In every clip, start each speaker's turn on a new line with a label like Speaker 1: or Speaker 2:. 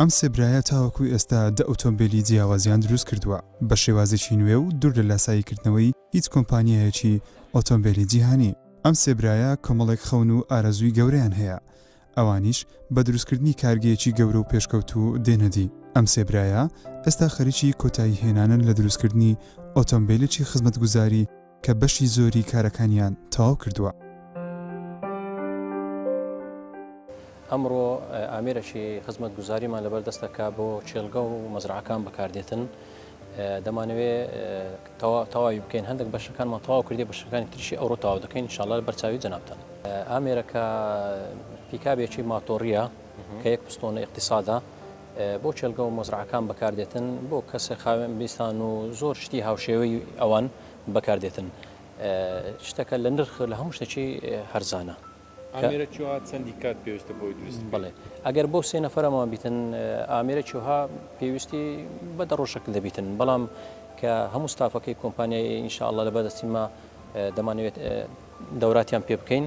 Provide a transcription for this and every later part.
Speaker 1: ئەم سێ برایە تاوەکو ئێستا دە ئۆتۆمبێلی جیاوازیان دروست کردووە بە شێوازێکی نوێ و دوور لە لاساییکردنەوەی هیچ کۆمپانیایەکی ئۆتۆمبێلی جیهانی. ئەم سێ برایە کۆمەڵێک خەون و ئارەزووی گەورەیان هەیە، ئەوانیش بە دروستکردنی کارگەیەکی گەورە و پێشکەوتوو دێنە دی. ئەم سێ برایە ئێستا خەریکی کۆتاییهێنانن لە دروستکردنی ئۆتۆمبێلێکی خزمەتگوزاری، کە بەشی زۆری کارەکانیان تەواو کردووە.
Speaker 2: ئەمڕۆ ئامێرەکی خزمەتگوزاریمان لەبەر دەستە کە بۆ کێڵگە و مەزرەعەکان بەکاردێتن. دەمانەوێ تەواوی بکەین هەندێک بەشەکانمان تەواو کردی بەشەکانی تریشی ئەوڕۆ تاو دەکەین شڵار بەرچاوی جەنابتان ئامێرەکە پیکابێکی ماتۆڕیە کە یەک پستۆنە اقتصادا بۆ کێلگە و مەزرەعەکان بەکاردێتن، بۆ کەسە خاوێن بیستان و زۆر شتی هاوشێوەی ئەوان بەکاردێتن. شتەکە لە نرخ لە هەموو شتەکی هەرزانە. ئامێرە کیوها
Speaker 3: چەندی کات پێویستە بۆی دروست بکەین؟ بەڵێ ئەگەر بۆ
Speaker 2: سێ نەفەرەمان بیتن ئامێرە کیوها پێویستی بە دە ڕۆژەک دەبیتن بەڵام کە هەموو ستافەکەی کۆمپانیای ئینشاڵڵە لە بەردەستیمە دەمانەوێت دەوراتیان پێ بکەین.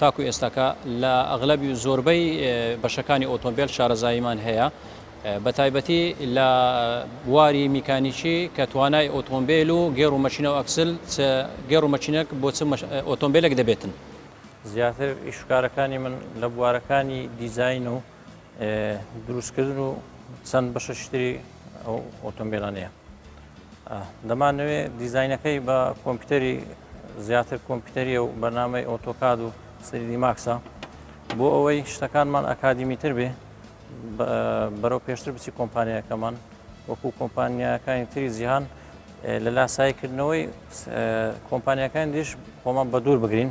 Speaker 2: تاکو ئێستاکە لە ئەغلەبی و زۆربەی بەشەکانی ئۆتۆمبێل شارەزاییمان هەیە بە تایبەتی لە بواری میکانیکی کە توانای ئۆتۆمبیل و گێڕ و مەشینە و ئەکسل گێڕ و مەشینەک بۆ چ ئۆتۆمبیلێک دەبێتن. زیاتر ئیشوکارەکانی من لە بوارەکانی دیزین و دروستکردن و چەند بەشە شتری ئەو ئۆتۆمبیلانەیە دەمانەوێ دیزینەکەی بە کۆمپیوتەری زیاتر کۆمپیوتەریە و بەنامەی ئۆتۆکاد و سریدی ماکسە بۆ ئەوەی شتەکانمان ئەکادیمی تر بێ بەرەو پێشتر بچی کۆمپانیەکەمان وەکو کۆمپانیاکانی تری جیهان لە لاسایکردنەوەی کۆمپانیەکان دیش خۆمان بە دوور بگرین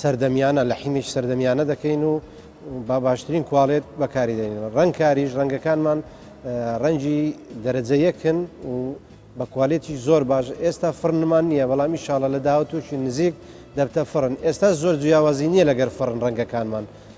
Speaker 4: سەردەمیانە، لە حیمیش سەردەمیانە دەکەین و با باشترین کوالێت بەکاری دێنین. ڕەنگ کاریش، ڕەنگەکانمان ڕەنگی دەرەجە یەکن و بە کوالێتیش زۆر باش. ئێستا فڕنمان نییە، بەڵام ئینشاڵڵا لە داهاتوویەکی نزیک دەبتە فڕن. ئێستاش زۆر جیاوازی نییە لەگەر فڕن ڕەنگەکانمان.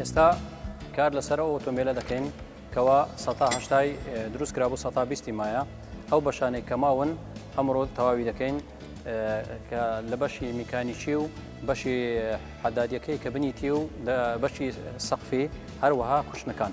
Speaker 2: ئێستا کار لەسەر ئەو ئۆتۆمبیلە دەکەین کەوا سەتا هەشتای دروست کرا بۆ سەتا بیستی مایە ئەو بەشانێک کەماون ئەمڕۆ تەواوی دەکەین کە لە بەشی میکانیکی و بەشی حەدادیەکەی کە بنیتی و بەشی سەقفی هەروەها کوشتنەکان.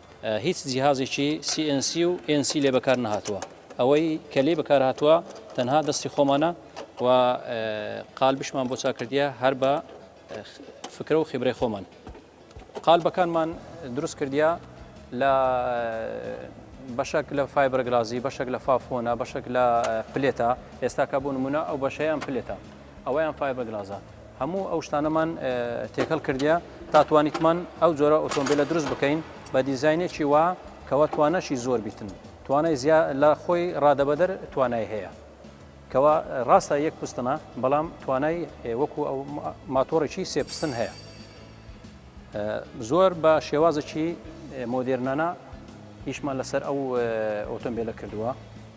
Speaker 2: هیچ جیهازێکی CNC و NC لێ بەکار نەهاتووە، ئەوەی کە لێی بەکار هاتووە تەنها دەستی خۆمانە و قالبشمان بۆ چاک کردیە هەر بە فکرە و خیبرەی خۆمان. قالبەکانمان دروست کردیە لە بەشەک لە فایبەرگلازی، بەشەک لە فافۆنە، بەشەک لە پلێتە، ئێستاکە بۆ نمونە ئەو بەشەیان پلێتە، ئەوەیان فایبەرگلازە. هەموو ئەو شتانەمان تێکەڵ کردە تا توانیتمان ئەو جۆرە ئۆتۆمبیلە دروست بکەین بە دیزینێکی وا کەوا توانەشی زۆر بیتن توانای زیا لە خۆی ڕادەبەدەر توانای هەیە کەوا ڕاستە یەک پستنە بەڵام توانای وەکو ئەو ماتۆڕێکی سێپستن هەیە زۆر بە شێوازێکی مۆدێرنانە هیچمان لەسەر ئەو ئۆتۆمبیلە کردووە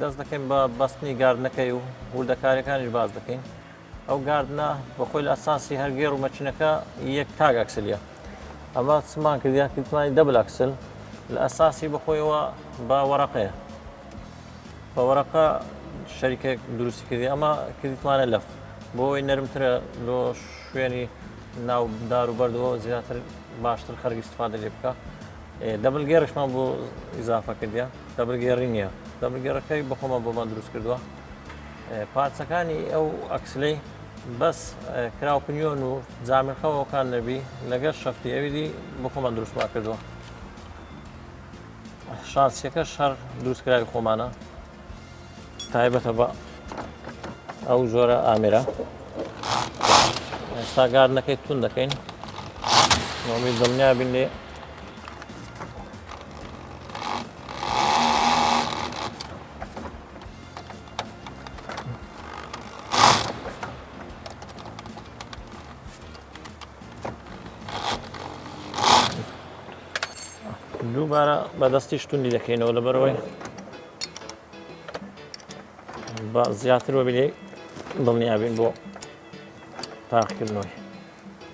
Speaker 5: دەست دەکەین بە بەستنی گاردنەکەی و وردەکاریەکانیش باس دەکەین ئەو گاردنە بە خۆی لە ئەساسی هەر گێڕ و مەچینەکە یەک تاگ ئەکسلیە ئەمە سمان کردیا کردمانی دەبل ئەکسل لە ئەساسی بەخۆیەوە بە وەرەقەیە بە وەرەقە شەریکێک دروستی کردی ئەمە کردیتمانە لەف بۆ ئەوەی نەرمترە لۆ شوێنی ناو دار و بەردەوە زیاتر باشتر خەرگی استفادە لێ بکە دەبل گێڕیشمان بۆ ئیزافە کردە دەبل گێڕی نییە دەبل گێڕەکەی بەخۆمە بۆمان دروست کردووە پارچەکانی ئەو ئەکسلەی بەس کراوپنیۆن و جامرخەوەکان نەبی لەگەر شەفتی ئەویدی بخۆمان دروستمان کردووە شانسیەکە شەر دروستکراوی خۆمانە تایبەتە بە ئەو جۆرە ئامێرە ئێستا گاردنەکەی تون دەکەین نۆمی دڵنیا بین لێ دووبارە بەدەستی شتوندی دەکەینەوە لە بەرەوەی بە زیاتر وەبیێ دڵنیابین بۆ تاقیکردنەوەی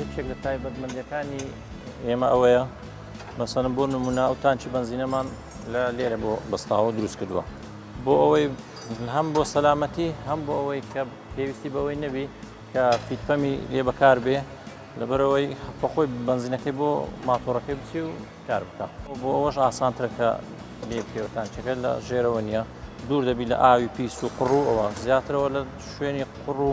Speaker 5: یەکێک لە تایبەتمەندەکانی ئێمە ئەوەیە مەسەن بۆ نمونە ئەو تانچی بنزینەمان لە لێرە بۆ بەستاوە دروست کردووە بۆ ئەوەی هەم بۆ سەلامەتی هەم بۆ ئەوەی کە پێویستی بەوەی نەبی کە فیتپەمی لێ بەکار بێ لەبەرەوەی بەخۆی بنزینەکەی بۆ ماتۆڕەکەی بچی و کار بکە بۆ ئەوەش ئاسانترەکە لێ بکەوتان چەکە لە ژێرەوە نییە دوور دەبی لە ئاوی پیس و قڕوەوە زیاترەوە لە شوێنی قڕ و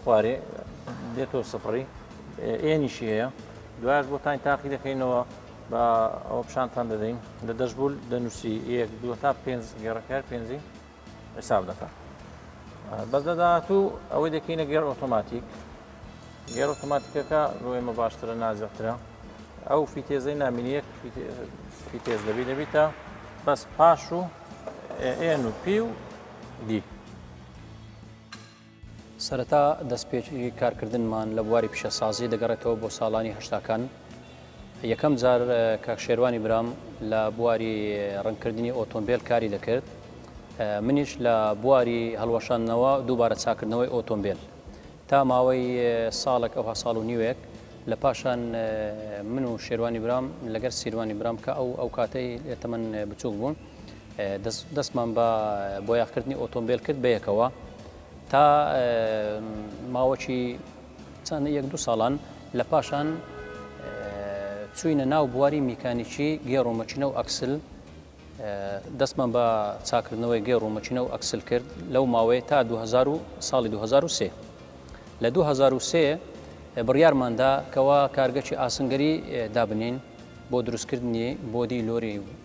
Speaker 5: خوارێ دێتۆ سفڕی ئێنیشی هەیە دوایش بۆتان تاقی دەکەینەوە بە ئەوە پیشانتان دەدەین لە دەشبول دەنووسی یەک دو تا پێنج گێڕەکار پێنجی حساب دەکە بەس لە داهاتوو ئەوەی دەکەینە گەر ئۆتۆماتیک گەر ئۆتۆماتیکەکە بۆ ئێمە باشترە نازەترە ئەو فیتێزەی نامینیەک فیتێز دەبی دەبیتە بەس پاش و ئێن و پی و دی
Speaker 2: سەرەتا دەستپێکی کارکردنمان لە بواری پیشەسازی دەگەڕێتەوە بۆ ساڵانی هەشتاکان یەکەم جار کاک شێروانی برام لە بواری ڕنکردنی ئۆتۆمبیل کاری دەکرد منیش لە بواری هەڵوەشاندنەوە دووبارە چاکردنەوەی ئۆتۆمبیل تا ماوەی ساڵک ئەوها ساڵ و نیوێک لە پاشان من و شێروانی برام لەگەر سیروانی برام کە ئەو ئەو کاتەی تەمەن بچووک بوون. دەستمان بە بۆیاخکردنی ئۆتۆمبیل کرد بەیەکەوە تا ماوەکی چەند یەک دو ساڵان لە پاشان چوینە ناو بواری میکانیکی گێڕ و مەچینە و ئەکسل دەستمان بە چاکردنەوەی گێڕ و مەچینە و ئەکسل کرد لەو ماوەیە تا 2000 ساڵی 2023 لە 2023 بڕیارماندا کەوا کارگەکی ئاسنگەری دابنین بۆ دروستکردنی بۆدی لۆری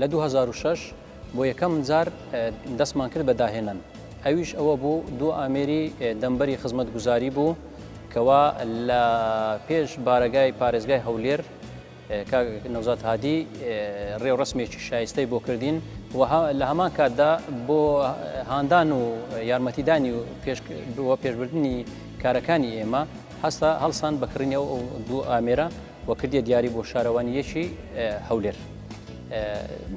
Speaker 2: لە دوو هەزار و شەش بۆ یەکەم جار دەستمان کرد بە داهێنان، ئەویش ئەوە بوو دوو ئامێری دەمبەری خزمەتگوزاری بوو کەوا لە پێش بارەگای پارێزگای هەولێر کاک نەوزاد هادی ڕێوڕسمێکی شایستەی بۆ کردین و لە هەمان کاتدا بۆ هاندان و یارمەتیدانی و بۆ پێشبردننی کارەکانی ئێمە هەستا هەڵسان بەکڕینەوە دوو ئامێرە و کردیە دیاری بۆ شارەوانی یەکی هەولێر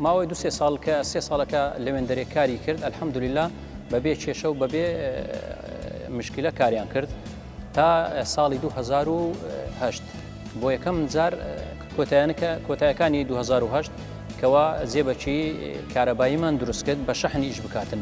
Speaker 2: ماوەی دو سێ ساڵ کە سێ ساڵەکە لەوێندەرێ کاری کرد ئەلحەمدولیلا بەبێ کێشە و بەبێ مشکلە کاریان کرد تا ساڵی 2010 بۆ یەکەم جار کۆتایانەکە کۆتایەکانی 2010 کەوا زێبەکی کارەباییمان دروستکرد بە شەحنیش بکاتن.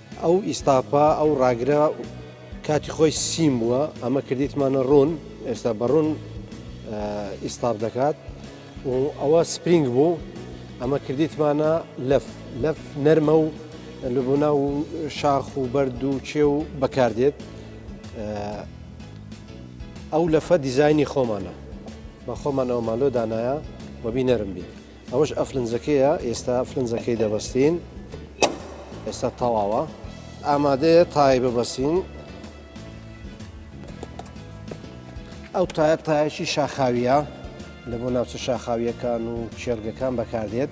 Speaker 4: ئەو ئیستاپە ئەو ڕاگرە کاتی خۆی سیم بووە ئەمە کردیتمانە ڕوون ئێستا بەڕوون ئیستاپ دەکات و ئەوە سپرینگ بوو ئەمە کردیتمانە لەف لەف نەرمە و لەبوونا و شاخ و بەرد و چێ و بەکاردێت ئەو لەفە دیزایانی خۆمانە بە خۆمانەوە مالۆ دانایە وەبی نەرم بێت ئەوەش ئەفلنجەکەیە ئێستا ئەفلنجەکەی دەبەستین ئێستا تەواوە ئامادەیە تای ببەسین ئەو تایە تایەکی شاخاویە لە بۆ ناوچە شاخاویەکان و شێرگەکان بەکاردێت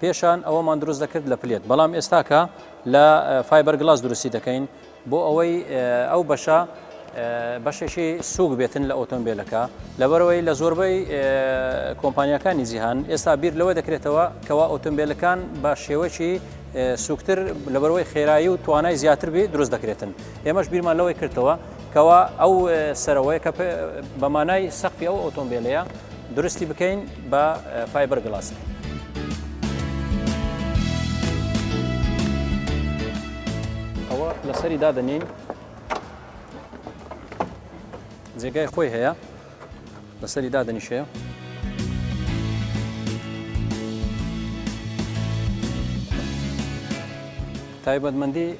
Speaker 2: پێشان ئەوەمان دروست دەکرد لە پلێت بەڵام ئێستاکە لە فایبەر گلاس دروستی دەکەین بۆ ئەوەی ئەو بەشە بەشێکی سووک بێتن لە ئۆتۆمبیلەکە لەبەرەوەی لە زۆربەی کۆمپانیەکانی جیهان ئێستا بیر لەوە دەکرێتەوە کەوا ئۆتۆمبیلەکان بە شێوەکی سوکتر لەبەرەوەی خێرایی و توانای زیاتر بێ دروست دەکرێتن ئێمەش بیرمان لەوەی کردەوە کەوا ئەو سەرەوەی کە بە مانای سەقفی ئەو ئۆتۆمبیلەیە درستی بکەین بە فایبەر گلاس. ئەوە لەسەری دادەنین جێگای خۆی هەیە لەسەری دادەنیشەیە. تایبەتمەندی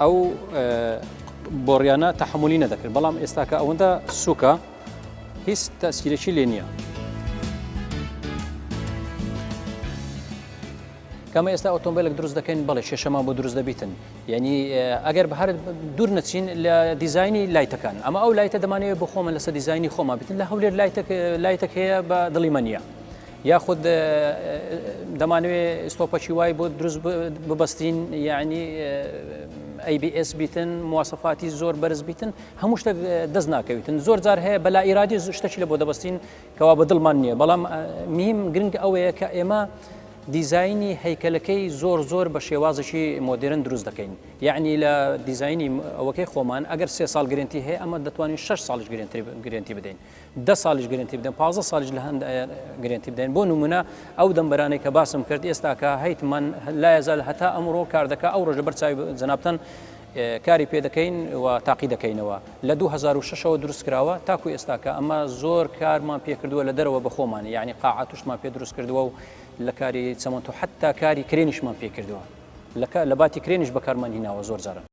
Speaker 2: ئەو بۆڕیانە تەحملی نەدەکرد بەڵام ئێستاکە ئەوەندە سوکە هیچ تەسیرەکی لێ نییە. کەمە ئێستا ئۆتۆمبیلێک دروست دەکەین بەڵێ کێشەمان بۆ دروست دەبیتن یعنی ئەگەر بە هەر دوور نەچین لە دیزایانی لایتەکان ئەمە ئەو لایتە دەمانەیە بۆ خۆمە لەسەر دیزایانی خۆمان بتن لە هەولێر لایتەک لایتەک هەیە بە دڵی مە نیە یاخود دەمانەوێ ستۆپەکی وای بۆ دروست ببەستین یعنی ABS بیتن موواسەفاتی زۆر بەرز بیتن هەموو شتێک دەست ناکەویتن زۆر جار هەیە بەلا ئیرادی شتەکی لە بۆ دەبستین کەوا بە دڵمان نییە بەڵام میم گرنگ ئەوەیە کە ئێمە دیزایانی هەیکەلەکەی زۆر زۆر بە شێوازێکی مۆدرن دروست دەکەین یعنی لە دیزایانی ئەوەکەی خۆمان ئەگەر سێ ساڵ گرنتی هەیە ئەمە دەتوانین 6 ساڵش گرنتی بدەین دە ساڵیش گرنتی بدەن پازە ساڵیش لە هەند گرنتی بدەین بۆ نمونە ئەو دەمبەرانێک کە باسم کرد ئێستاکە هەیتمان لا ێزال هەتا ئەمڕۆ کار دەکە ئەو ڕۆژە بەرچوی جنابتەن کاری پێ دەکەین و تاقی دەکەینەوە لە 2006ەوە دروست کراوە تاکو ئێستاکە ئەمە زۆر کارمان پێکردووە لە دەرەوە بەخۆمانە یعنی قاعاتشمان پێ دروست کردووە و لە کاری چەمەند و حتا کاری کرێنیشمان پێکردووە لە باتی کرێنیش بەکارمان هیناوە زۆر جارە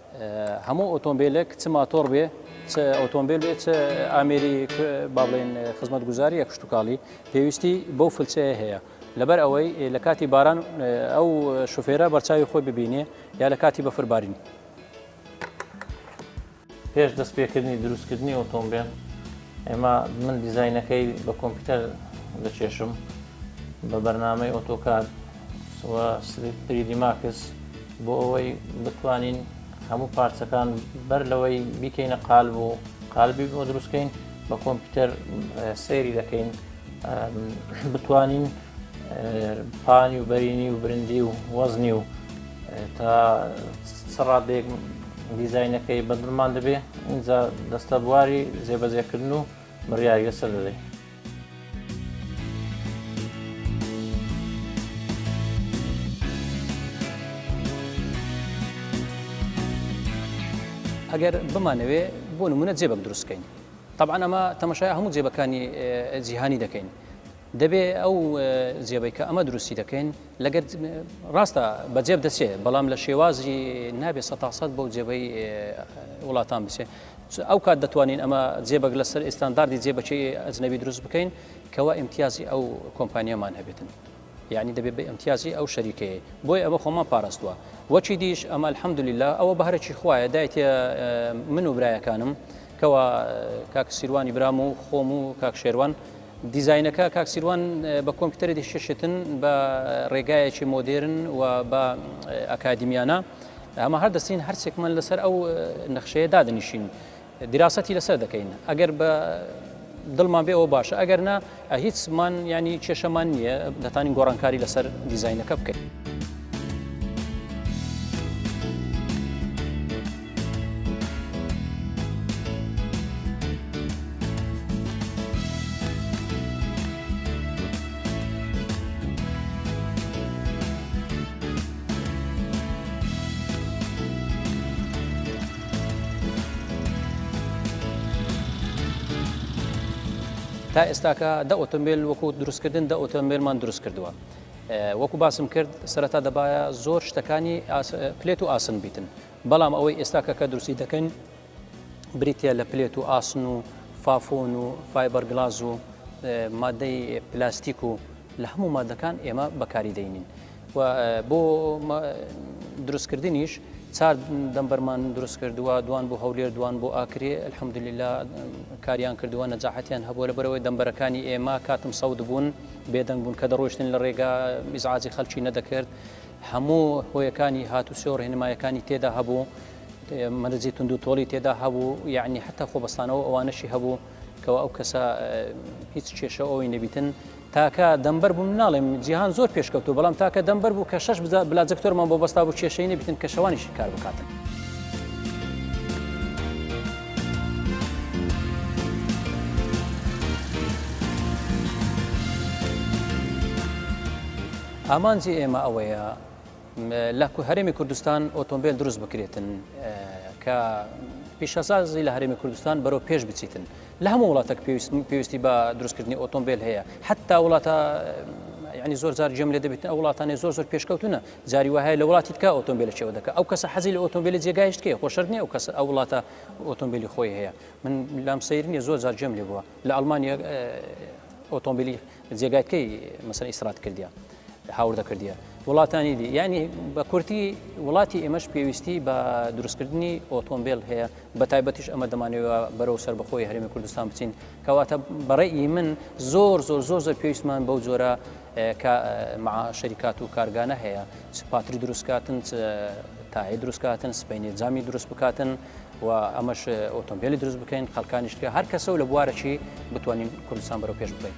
Speaker 2: هەموو ئۆتۆمبیلێک چ ماتۆڕ بێ چ ئۆتۆمبیل بێ چ ئامێری با بڵێن خزمەتگوزاریە کشتتوکاڵی پێویستی بەو فلچەیە هەیە لەبەر ئەوەی لە کاتی باران ئەو شوفێرە بەرچاوی خۆی ببینێ یا لە کاتی بەفربارین
Speaker 5: پێش دەست پێکردنی دروستکردنی ئۆتۆمبیل ئێمە من دیزینەکەی بە کۆمپیوتەر دەچێشم بە بەرنمەی ئۆتۆکار سریدی ماکس بۆ ئەوەی بتوانین هەموو پارچەکان بەر لەوەی بیکەینە قالب و قالبی بۆ دروستکەین بە کۆمپیوتەر سەیری دەکەین بتوانین پانی و بەرینی و برندی و وەزنی و تا سەڕادێک دیزینەکەی بەدڵمان دەبێ اینجا دەستە بواری زێبەزێکردن و مڕیاریە سەر دەدەین
Speaker 2: ئەگەر بمانەوێ بۆ نمونە جێبەک دروستکەین طبعا ئەمە تەمەشای هەموو جێبەکانی جیهانی دەکەین دەبێ ئەو جێبەی کە ئەمە دروستی دەکەین لەگەر ڕاستە بەجێب دەچێت بەڵام لە شێوازی نابێت سە تاسەد بۆ جێبەی وڵاتان بچێت چ ئەو کات دەتوانین ئەمە جێ بەگ لەسەر ئێستانداردی جێ بەچەی ئەجنەبی دروست بکەین کەوا ئیمتیازی ئەو کۆمپانیامان هەبێتن یعنی دەبێت بە ئەمتیازی ئەو شەریکەیە بۆی ئەمە خۆمان پاراستووە وەچی دیش ئەمە الحەمدللا ئەوە بەهرەی خوایە دایتە من و برایەکانم کەوا کاک سیروانی برام و خۆم و کاک شێوان دیزینەکە کاک سیروان بە کۆمپیوتەری دیشتن بە ڕێگایەکی مۆدێرن و بە ئەکادیمیانە و ئەمە هەر دەستین هەرچێکمان لەسەر ئەو نەخشەیە دادنیشین دیراسەتی لەسەر دەکەین ئەگەر بە دڵمان بێ ئەوە باشە ئەگەر نا هیچمان ینی کێشەمان نییە دەتانی گۆڕانکاری لەسەر دیزینەکە بکەین. تا ئێستاکە دە ئۆتۆمبیل وەکو دروستکردن دە ئۆتۆمبیلمان دروست کردووە وەکو باسم کرد سەرەتا دەبایە زۆر شتەکانی پلێت و ئاسن بیتن بەڵام ئەوەی ئێستاکە کە دروستی دەکەین بریتە لە پلێت و ئاسن و فافۆن و فایبەر گلاز و مادەی پلاستیک و لە هەموو مادەکان ئێمە بەکاری دەینین. و بۆ دروستکردنیش چار دەمبەرمان دروست کردووە دوان بۆ هەولێر دوان بۆ ئاکرێ الحمدللا کاریان کردووە نەجاحەتیان هەبووە لە بەرەوەی دەمبەرەکانی ئێمە کاتم سەود بوون بێدەنگ بوون کە دەڕۆشتن لە ڕێگا میزعاجی خەلکی نەدەکرد هەموو هۆیەکانی هاتوچۆ ڕێنمایەکانی تێدا هەبوو مەرجی تونند و تۆڵی تێدا هەبوو یعنی حتا خۆبەستانەوە ئەوانەشی هەبوو کەوا ئەو کەسە هیچ کێشە ئەوی نەبیتن تاکە دەمبەر بووم ناڵێم جیهان زۆر پێشکەوتو بەڵام تاکە دەمبەر بوو کە شش بلاجکتۆرمان بۆ بەستا بوو کێشەی نەبیتن کە شەوانیشی کار بکاتن. ئامانجی ئێمە ئەوەیە لە هەرێمی کوردستان ئۆتۆمبیل دروست بکرێتن کە پیشەسازی لە هەرێمی کوردستان بەرەو پێش بچیتن لە هەموو وڵاتێک پێویستی بە دروستکردنی ئۆتۆمبیل هەیە حتا وڵاتە ینی زۆر زار جێم لێ دەبێت ئەو وڵاتانی زۆر زۆر پێشکەوتونە جاری وهەیە لە وڵاتی تکە ئۆتۆمبیل چێوە دەکە ئەو کەسە حەزی لە ئۆتۆمبیلی جێگایشت کێ خۆشردنی ئەو کەسە ئەو وڵاتە ئۆتۆمبیلی خۆی هەیە من لام سەیرنی زۆر زار جێم لێ بووە لە ئەلمانیا ئۆتۆمبیلی جێگای کەی مەسەر ئیسرات کردە هاوردە کردە وڵاتانی دی ینی بە کورتی وڵاتی ئێمەش پێویستی بە دروستکردنی ئۆتۆمبیل هەیە بە تایبەتیش ئەمە دەمانەوە بەرەو سەر بەخۆی هەرمی کوردستان بچین کەواتە بەڕێی من زۆر زۆر زۆر زۆر پێویستمان بەو جۆرە شەریکات و کارگانە هەیە پاتری دروستکاتن تاهی دروستکاتن سپینی جامی دروست بکاتن و ئەمەش ئۆتۆمبیلی دروست بکەین خەکانی شتکە هەر کەسە و لە بوارەی بتوانین کوردستان بەرەو پێش بکەین.